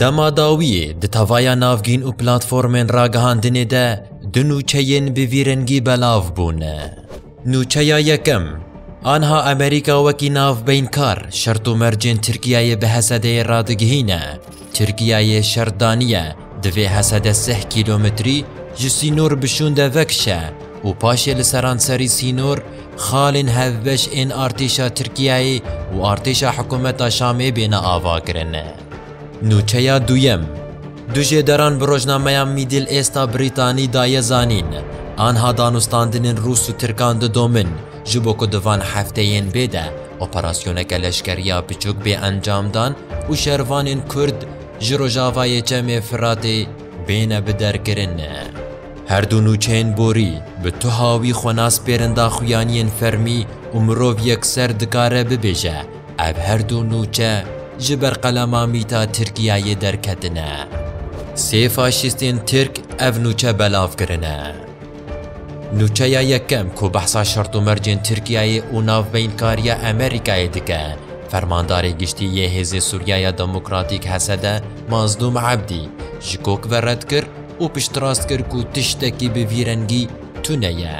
Dema dawiyê di tevaya navgîn û platformên ragihandinê de du nûçeyên bi vî rengî belav bûn. Nûçeya yekem, Anha Amerîka wekî navbeynkar şert û mercên Tirkiyeyê bi Hesedeyê radigihîne, Tirkiyeyê şert daniye divê Hesede sih kîlometrî ji sînor bi şûnde vekişe û paşê li seranserî sînor Xalên hevbeş ên artêşa Tirkiyeyê û artêşa hikûmeta Şamê bêne avakirin. Nûçeya duyem, Du jêderan bi rojnameya Middle East-a Brîtanî daye zanîn, anha danûstandinên Rûs û Tirkan didomin ji bo ku di van hefteyên bê de operasyoneke leşkeriya biçûk bê encamdan û şervanên Kurd ji rojavayê Çemê Firatê bêne biderkirin. Her du nûçeyên borî bi tuha wî xwe nas pêrin daxuyaniyên fermî û mirov yekser dikare bibêje ev her du nûçe ji ber qelema mîta Tirkiyeyê derketine. Sê faşîstên Tirk ev nûçe belav kirine. Nûçeya yekem ku behsa şert û mercên Tirkiyeyê û navbeynkariya Emerîkayê dike, Fermandarê Giştî yê Hêzê Sûriyaya Demokratîk, HSD, Mazlûm Ebdî ji kok ve red kir, û piştrast kir ku tiştekî bi vî rengî tune ye.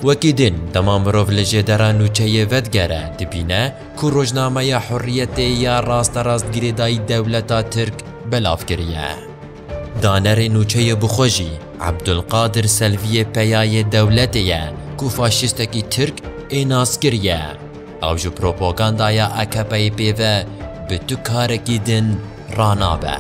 Wekî din, dema mirov li jêdera nûçeyê vedigere, dibîne ku rojnameya Hurriyetê ya rasterast girêdayî dewleta Tirk belav kiriye. Danerê nûçeyê bi xwe jî Ebdulkadir Selviyê peyayê dewletê ye ku faşîstekî Tirk ê nas kiriye. Ew ji propagandaya AKP'ê pê ve bi tu karekî din, ranabe.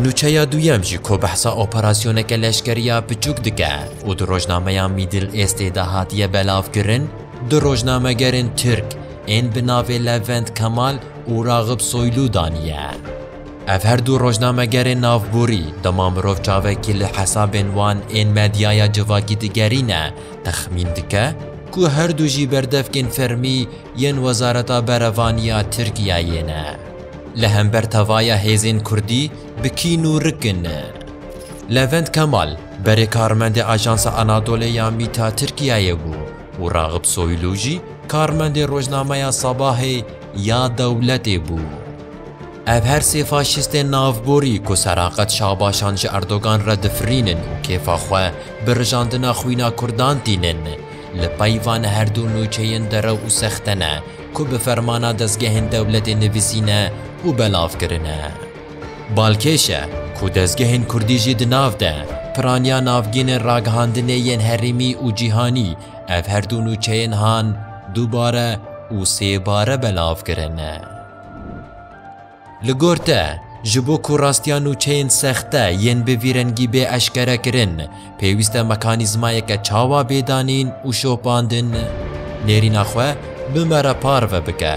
Nûçeya duyem jî ku behsa operasyoneke leşkeriya piçûk dike û di rojnameya Middle Eastê de hatiye belavkirin, du rojnamegerên Tirk ên bi navê Levent Kemal û Raghib Soylu daniye. Ev her du rojnamegerên navborî dema mirov çavekî li hesabên wan ên medyaya civakî digerîne texmîn dike ku her du jî berdevkên fermî yên Wezareta Berevanî ya Tirkiyeyê ne. Li hember tevaya hêzên Kurdî bi kîn û rikin e. Levent Kemal, berê karmendê Ajansa Anadolê ya mîta Tirkiyeyê bû û Raxib Soylu jî karmendê rojnameya Sabahê ya dewletê bû. Ev her sê faşîstên navborî ku seraqet şabaşan ji Erdogan re difirînin û kêfa xwe bi rijandina xwîna Kurdan tînin, li peyva ne herdu nûçeyên derew û sexte ne, ku bi fermana dezgehên dewletê nivîsîne û belav kirine. Balkêş e ku dezgehên kurdî jî di nav de piraniya navgînên ragihandinê yên herêmî û cîhanî ev her du nûçeyên han dubare û sêbare belav kirine. Li gor te, ji bo ku rastiya nûçeyên sexte yên bi vî rengî bê eşkerekirin, pêwîste mekanîzmayeke çawa bê danîn û şopandin nêrîna xwe bi me re parve bike.